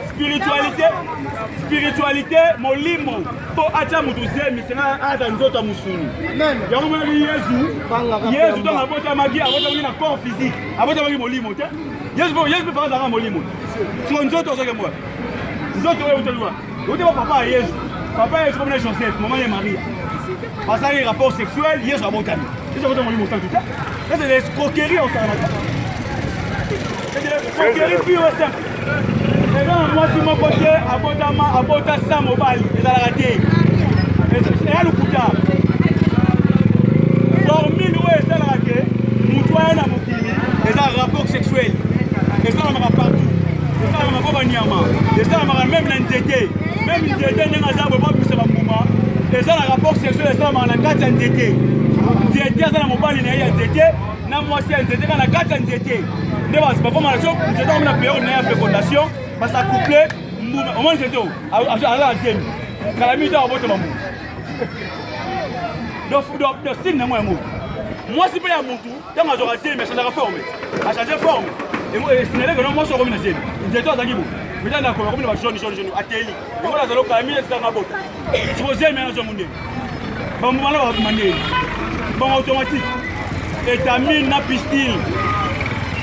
spiritualité spiritualité molimo mpo atya moto zemi senga ata nzoto ya mosuni yango monaki yesu yesu ntango abotamaki abotamaki na corps physique abotamaki molimo te yesu mpe faka azalaka molimo siko nzoto ozokemboa nzoto oyo utaliwa Ote ba papa ya Yesu. Papa ya Yesu comme na Joseph, maman ya Maria. Basali rapport sexuel, Yesu abotami. Yesu abotami molimo santu te. Ça c'est l'escroquerie au Canada. C'est de l'escroquerie pure et simple. Eza na mwasi moko te abotama abota sa mobali ezalaka te. Eya lokuta. Formule oyo esalaka ke moto aya na mokili eza rapport sexuel. Esalamaka partout. tokala mako banyama esalamaka meme na nzete meme nzete ndenge aza boye babimisa bambuma eza na rapport sexuel esalamaka na kati ya nzete nzete aza na mobali na ye ya nzete na mwasi ya nzete kaka na kati ya nzete nde bakoma na so nzete akomi na periode na ye ya fécondation basa couple mbuma omoni nzete aza na zemi kala mingi to akobota bambuma do sini nango yango mwasi mpe ya mutu ntango azwaka zemi achanjaka forme achange forme esinaleke no mwasi okomi na zemi nzeto azalaki bo mita na komi na bajaune jaune jaune ateli yango nazala okala mine ezanga bota siko zemi ana zongo ndenge bamobana bakoma ndenge bango automatique etamine na pistil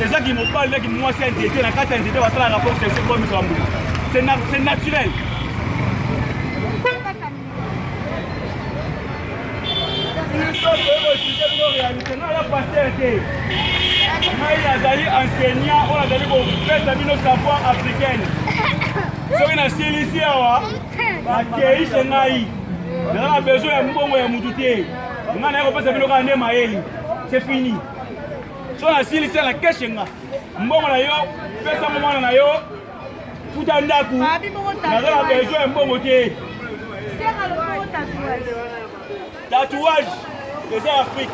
ezaki mobali naki mwasi ya nzete na kati ya nzete basala rapport sexuel komisa bambula c'est naturel ngai nazali enseignant oyo azali kopesa bino savoir africaine soki nasilisi awa bakeise ngai naza na besoin ya mbongo ya motu te ngai naye kopesa bino kaka nde mayeli c'est fini so nasilisi na keshe nga mbongo na yo pesa momwana na yo futa ndako naza na besoin ya mbongo te tatouage eza ya afrique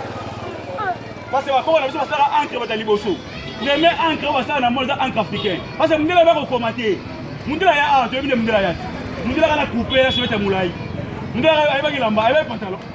parce que bakoko na biso basala encre bata liboso meme encre oyo basala na mona eza encre africain parce que mondela bakokoma te mondela ya awa toyebi nde mondela ya te mondela kana coupe ya sovete ya molai mondela ayebaki lamba ayebaki pantalon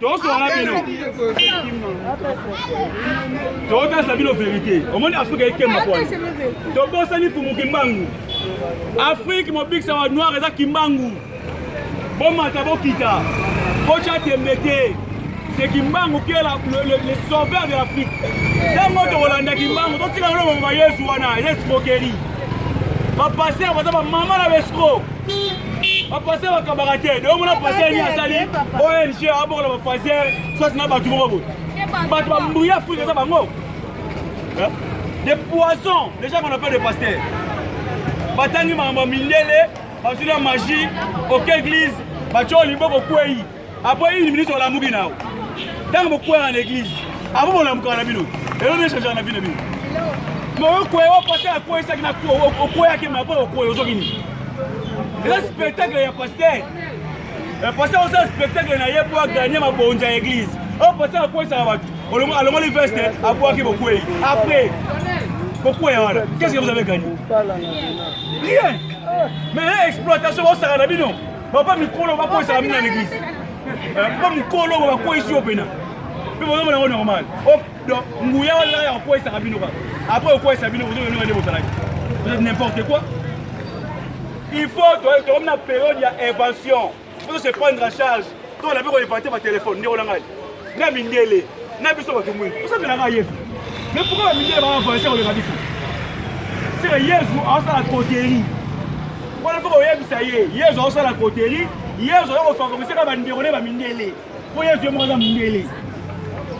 tosola bino tokotasa bino verité omoni afrika ekemba kwana tobosani fumu kimbangu afrike mobikisa wa noir eza kimbangu bomata bokita botya tembe te c'est kimbangu qui est la, le, le, le sauveur de l'afrique ntango tokolanda kimbangu totika lolo mama yesu wana eza escroquerie bapaster baza bamama na baescro bapase bakabaka te de omona pase nini asali ong abokola bapasere sosi na bato moko boye bato bambouye afrika eza bango de poison déjà qu'on appelle de pasteur batangi makambo ya mindele bazwi na magie oke église batyo liboko kwei Après une minute olamuki nao ntango bokweyaka na eglise abo bolamukaka na bino elo nde echangeaka na bino bino moyokweye opase akweyisaki na okweyaki ma mpo okweye ozoki nini eza spectacle ya paster pase osala spectacle na ye mpo aganye mabonzi ya eglise oyo pase akweyisaka bato alongoli veste abwaki bokwei après bokweya wana qu'est ce que vous avez gagné rien mais exploitation bosaka na bino Papa mikolo bakoyisaka bino na eglise. Eh, papa mikolo bakoyisi yo pena. Mpe bozomona yango normal. Oh, donc nguya wana ya kokoyisaka bino kaka. Après okoyisa bino ozo yonga nde bozalaki. Vous êtes n'importe quoi. Il faut tokomi na période ya invention. Il faut se prendre en charge. To na biko inventer ba téléphone ndeko na ngai. na mindele na biso bato mwini osamelaka yesu me pourkoi bamindele baa avancé koleka biso seke yesu aosala koteri wana foko oyebisa ye yesu aosala koteri yesu oya kofavorise ka bandeko ne bamindele mpo yesu ye moko aza mindele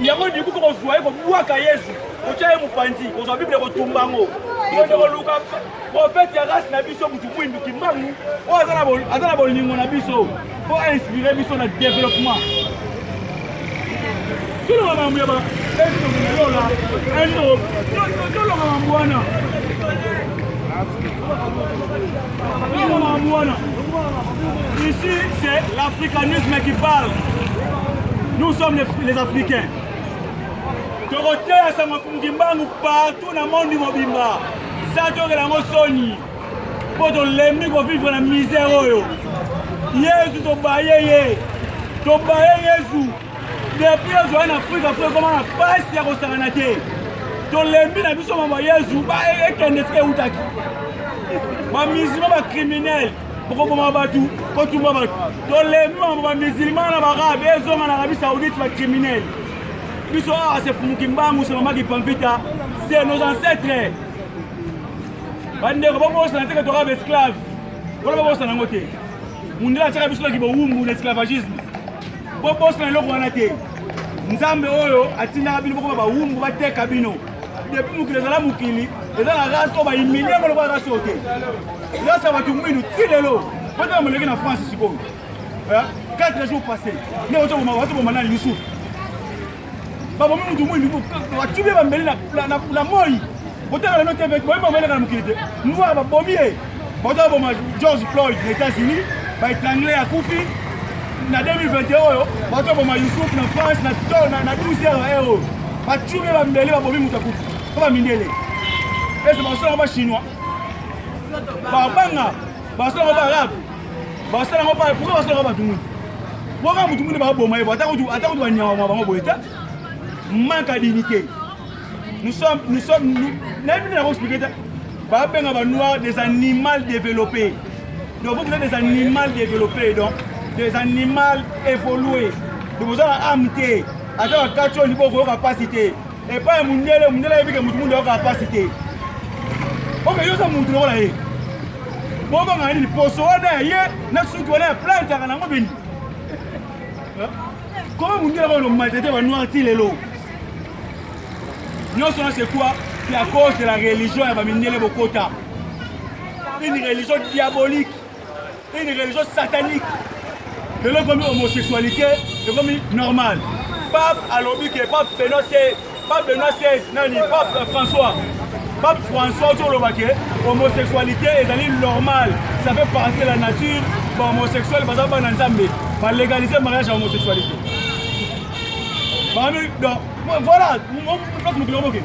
yango liku foko ozwa ye kobwaka yesu kotya ye mopanzi kozwa biblia kotumba yango kende koluka profete ya rasi na biso motu mwindu kimbangu oyo aza na bolingo na biso po a inspire biso na développement toloba mambo ya baeola eno toloba mambo wana toloba mambo wana ici c'est l'africanisme qui parle nous sommes les, les africains tokoteya sango fumuki mbangu partout na monde mobimba sa tokela yango soni mpo tolembi kovivre na misère oyo yesu tobaye ye tobaye yesu depuis ozwai na afrika fo ekoma na mpasi ya kosangana te tolembi na biso mama yesu ekende esika eutaki bamizima bacriminele bokoboma bato kotumba bato tolembi mama bamizilima na barabe ezonga na arabie saoudite bacriminele biso awa sefumuki mbangu semamaki pamvita se nos ancêtres bandeko babosana te katoka baesclave wana babosana yango te mundele atyaka biso naki bowumbu na esclavagisme bobosana eloko wana te nzambe oyo atindaka bino bokoma bawumbu bateka bino depuis mokili ezala mokili eza na race oyo baimilie ngo lokola race oyo te race ya bato mwindu ti lelo botala moleki na france sikoyo 4 jours passé nde otoboma nani yusufu babomi moto moi batibi ye bambeli na moi botala lelo te boyebi bameleka na mokili te noir babomi ye baza boma george floyd na états-unis baetrangle akufi na 2021 oyo bato boma yusuf na france na 12 heure heure oyo batibi ye bambeli babomi moto akufi mpo bamindele ese basala bachinois babanga basala ngo baarabe basala ngo baarabe pourquoi basala ngo bato muni boka motu muni baboma ye bo ata kutu ata kutu banyama mwa bango boye te manque à dignité nous sommes nous sommes nous nayebi nde nako expliquer te babenga ba noir des animal développé donc vous êtes des animal développé donc des animal évolué donc boza na ame te ata bakati oyo libo okoyoka mpasi te epai ya mondele mondele ayebi ke moto mundu ayokaa mpasi te oke yo oza motu lokola ye bobanga nini poso wana ya ye na suki wana ya plantaka nango beni koma mondele kaka lomaltete banoir ti lelo nyonso wana c'est quoi c'est à cause de la religion ya bamindele bokota une religion diabolique Une religion satanique. Lelo ekomi homosexualité ekomi normal. Pape alobi ke pape Benoît XVI, pape Benoît XVI nani pape euh, François. Pape François ozo loba ke homosexualité ezali normal. Ça fait partie de la nature. Ba homosexuel baza bana Nzambe. Ba légaliser mariage ya homosexualité. Bami donc voilà, place mokili omokende.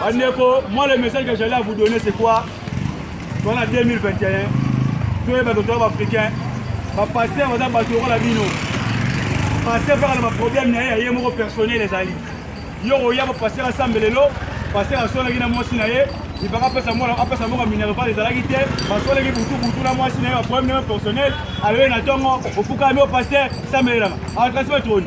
Bandeko, moi le message que j'allais à vous donner c'est quoi On a 2021, toyeba que toyeba africain bapasteur baza bato lokola bino pasteur kaka na baproblème na ye ya ye moko personnel ezali yo oya bapasteur asambe lelo pasteur asolaki na mwasi na ye ibaka apesa mwana apesa moko minerval ezalaki te basolaki butubutu na mwasi na ye baproblème na ye personnel aloi na ntongo ofukami o pasteur sambelelaka atrasi batroni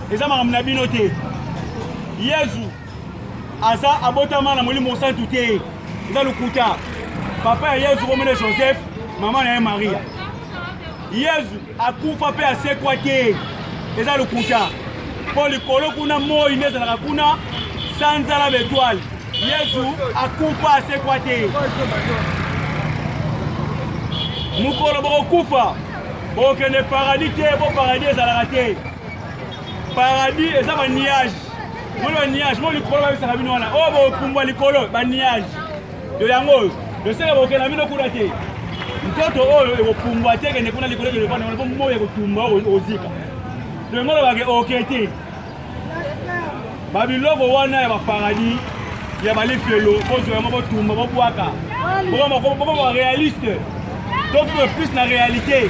eza makambo na bino te yezu aza abotama na molimo mosantu te eza lokuta papa ya yezu komene joseph mama na ye maria yezu akufa mpe asekwa te eza lokuta mpo likolo kuna moi nde ezalaka kuna sanza na betoile yezu akufa asekwa te mokolo bokokufa bokende paradis te mpo paradis ezalaka te paradis eza ba nuage moni ba nuage mo likolo babisaka bino wana oyo oh, bokumbwa likolo ba nuage yo yango oyo loseke bokenda bino kuna te nzoto oyo oh, ekopumbwa te kende kuna likolo ekende wana po moi ekotumba ozika to yango olobake oke te Ba biloko wana ya ba paradis ya ba lifelo bozwa yango botumba bobwaka bokoma réaliste tokoma plus na réalité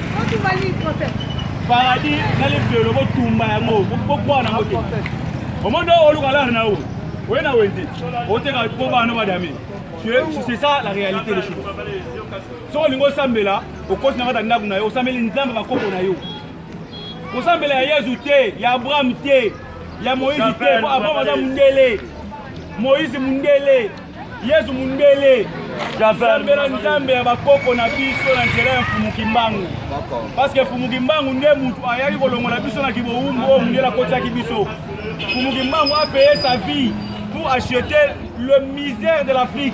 paradis na lifelo botumba yango bokwa nango te omondo oluka lare na yo oye na wenze oteka mpo bana badami c'est ça la réalité des choses soki olingi osambela okoti na kati ya ndako na yo osambeli nzambe bakoko na yo kosambela ya yezu te ya abraham te ya moïse te po abraham aza mondele moïse mondele yezu mondele sambela nzambe ya bakoko na biso na nzela ya mfumu kimbangu parceke mfumu kimbangu nde motu ayaki kolongola biso na kiboumbu oyo mondele akotisaki biso mfumu kimbangu apeye sa vie pour acheter le misère de l'afrique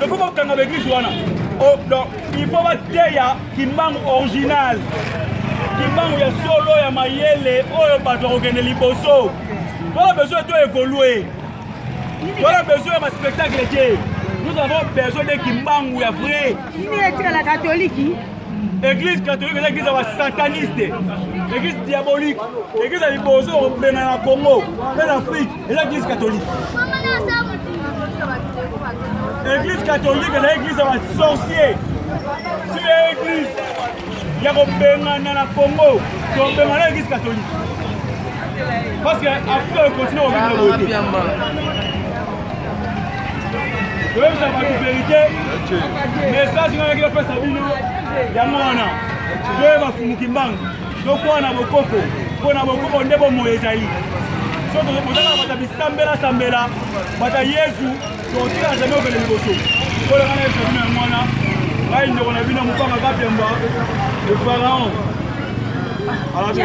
Il faut qu'on kanga l'église wana. Oh, donc, il faut va teya kimbangu original. Kimbangu ya solo ya mayele oyo bato bakokende liboso. Voilà besoin de évoluer. Voilà besoin de spectacle te. Nous avons besoin de kimbangu ya vrai. Nini etika la catholique? Église catholique eza église ya ba sataniste. Église diabolique. Église ya liboso obengana na Congo, mpe na Afrique. eza eglise catholique eglise catholique eza eglise ya basorcier si ya eglise ya kobengana na congo tobengana eglise catholique parce que afrika ekontinue kobengana boye te toyebisa bato verité message ngai naki napesa bino yango wana toyeba fumuki mbangu Tokoa na bokoko mpo na bokoko nde bomoi ezali. Soki tozozala bata bisambela sambela bata Yezu tokotikala jamai okende liboso. Kolaka na Yesu bino ya mwana ngai ndeko na bino mopanga kapemba le pharaon. Alabe.